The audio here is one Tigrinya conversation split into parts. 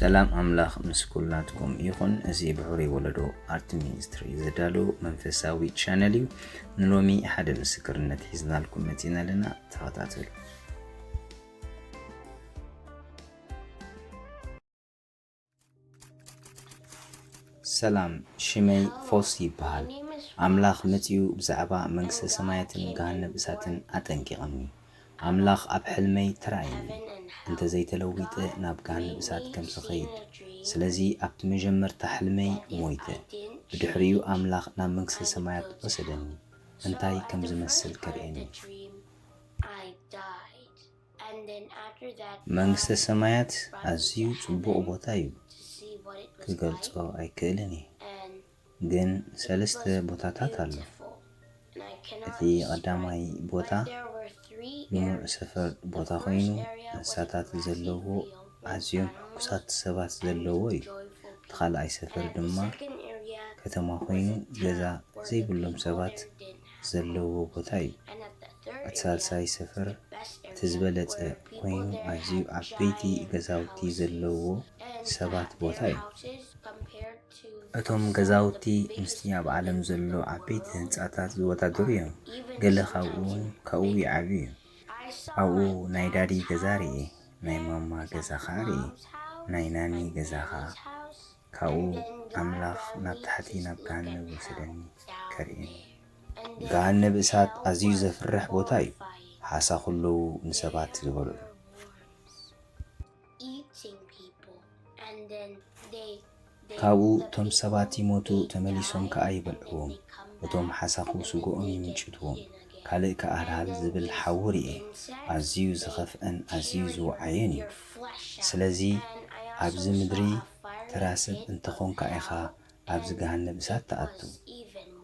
ሰላም ኣምላኽ ምስ ኩላትኩም ይኹን። እዚ ብሕሩይ ወለዶ ኣርት ሚኒስትሪ ዘዳሎ መንፈሳዊ ቻነል እዩ። ንሎሚ ሓደ ምስክርነት ሒዝናልኩም መፂና ኣለና፣ ተኸታተሉ። ሰላም ሽመይ ፎስ ይበሃል ኣምላኽ መጺኡ ብዛዕባ መንግስተ ሰማያትን ገሃነብ እሳትን ኣጠንቂቕኒ ኣምላኽ ኣብ ሕልመይ ተራእይኒ እንተ ዘይተለዊጠ ናብ ገሃነብ እሳት ከም ዝኸይድ ስለዚ ኣብቲ መጀመርታ ሕልመይ ሞይተ ብድሕሪኡ ኣምላኽ ናብ መንግስተ ሰማያት ወሰደኒ እንታይ ከም ዝመስል ከርእየኒ። መንግስተ ሰማያት ኣዝዩ ጽቡቕ ቦታ እዩ፣ ክገልጾ ኣይክእልን እየ። ግን ሰለስተ ቦታታት ኣሎ። እቲ ቀዳማይ ቦታ ልሙዕ ሰፈር ቦታ ኮይኑ እንስሳታት ዘለዎ ኣዝዮም ሕጉሳት ሰባት ዘለዎ እዩ። እቲ ካልኣይ ሰፈር ድማ ከተማ ኮይኑ ገዛ ዘይብሎም ሰባት ዘለዎ ቦታ እዩ። እቲ ሳልሳይ ሰፈር እቲ ዝበለጸ ኮይኑ ኣዝዩ ዓበይቲ ገዛውቲ ዘለውዎ ሰባት ቦታ እዩ። እቶም ገዛውቲ ምስቲ ኣብ ዓለም ዘሎ ዓበይቲ ህንጻታት ዝወዳደሩ እዮም፣ ገለ ካብኡ ውን ካብኡ ይዓቢ እዩ። ኣብኡ ናይ ዳዲ ገዛ ርኤ፣ ናይ ማማ ገዛ ከኣ ርኤ፣ ናይ ናኒ ገዛ ከኣ። ካብኡ ኣምላኽ ናብ ታሕቲ ናብ ገሃነብ ወሰደኒ ከርእየኒ። ገሃነብ እሳት ኣዝዩ ዘፍርሕ ቦታ እዩ፣ ሓሳኹ ኣለዉ ንሰባት ዝበልዑ። ካብኡ እቶም ሰባት ይሞቱ ተመሊሶም ከኣ ይበልዕዎም፣ እቶም ሓሳኹ ስግኦም ይምንጭትዎም። ካልእ ከኣ ሃልሃል ዝብል ሓዊ ርእየ፣ ኣዝዩ ዝኸፍኣን ኣዝዩ ዝወዓየን እዩ። ስለዚ ኣብዚ ምድሪ ተራ ሰብ እንተ ዀንካ ኢኻ ኣብዚ ገሃነብ እሳት ትኣቱ።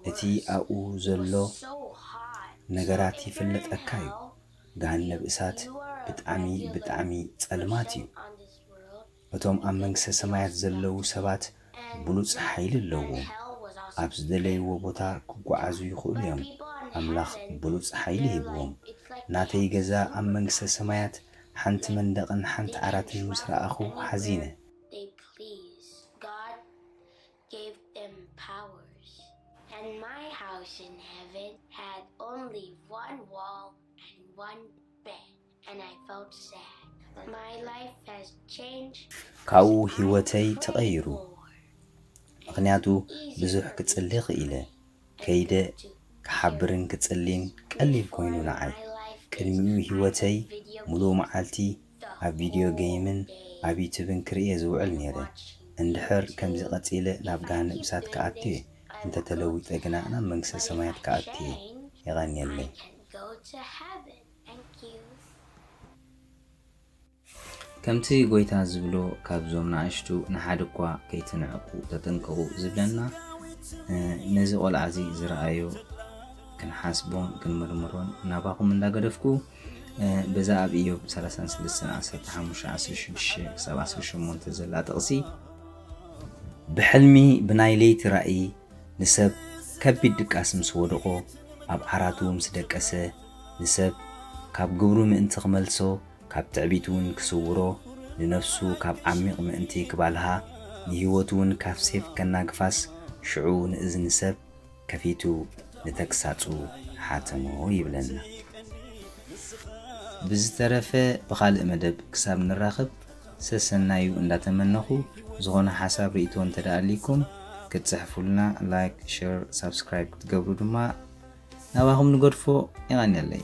እቲ ኣብኡ ዘሎ ነገራት ይፍለጠካ እዩ። ገሃነብ እሳት ብጣዕሚ ብጣዕሚ ጸልማት እዩ። እቶም ኣብ መንግስተ ሰማያት ዘለዉ ሰባት ብሉጽ ሓይሊ ኣለዎም። ኣብ ዝደለይዎ ቦታ ክጓዓዙ ይኽእሉ እዮም። ኣምላኽ ብሉጽ ሓይሊ ሂብዎም። ናተይ ገዛ ኣብ መንግስተ ሰማያት ሓንቲ መንደቕን ሓንቲ ዓራትን ምስ ረኣኹ ሓዚነ። ካብኡ ህይወተይ ተቐይሩ ምኽንያቱ ብዙሕ ክጽሊ ክኢለ ከይደ ክሓብርን ክጽሊን ቀሊል ኮይኑ ንዓይ ቅድሚኡ ህይወተይ ሙሉእ መዓልቲ ኣብ ቪድዮ ገይምን ኣብ ዩቱብን ክርእየ ዝውዕል ኔረ እንድሕር ከምዚ ቀጺለ ናብ ገሃነብ እሳት ክኣቱየ እንተተለዊጠ ግና ናብ መንግስተ ሰማያት ክኣቱየ የቐንየለይ። ከምቲ ጐይታ ዝብሎ ካብዞም ንኣሽቱ ንሓደ እኳ ከይትንዕቁ ተጠንቀቑ ዝብለና ነዚ ቆልዓ እዚ ዝረኣዮ ክንሓስቦን ክንምርምሮን ናባኹም እንዳገደፍኩ በዛ ኣብ ኢዮብ 33:15-16-18 ዘላ ጥቕሲ ብሕልሚ ብናይ ለይቲ ራእይ ንሰብ ከቢድ ድቃስ ምስ ወደቖ ኣብ ዓራቱ ምስ ደቀሰ ንሰብ ካብ ግብሩ ምእንቲ ኪመልሶ፣ ካብ ትዕቢትውን ኪስውሮ፣ ንነፍሱ ካብ ዓሚቕ ምእንቲ ኪባልሃ፣ ንህይወቱውን ካብ ሴፍ ከናግፋስ፣ ሽዑ ንእዝኒ ሰብ ከፊቱ ንተግሳጹ ሓተሞ ይብለና። ብዝተረፈ ብኻልእ መደብ ክሳብ ንራኽብ ሰሰናዩ እንዳተመነኹ፣ ዝኾነ ሓሳብ ሪኢቶ እንተደኣ ኣልይኩም ክትጽሕፉልና፣ ላይክ፣ ሸር፣ ሳብስክራይብ ክትገብሩ ድማ ናባኹም ንገድፎ የቀንየለይ።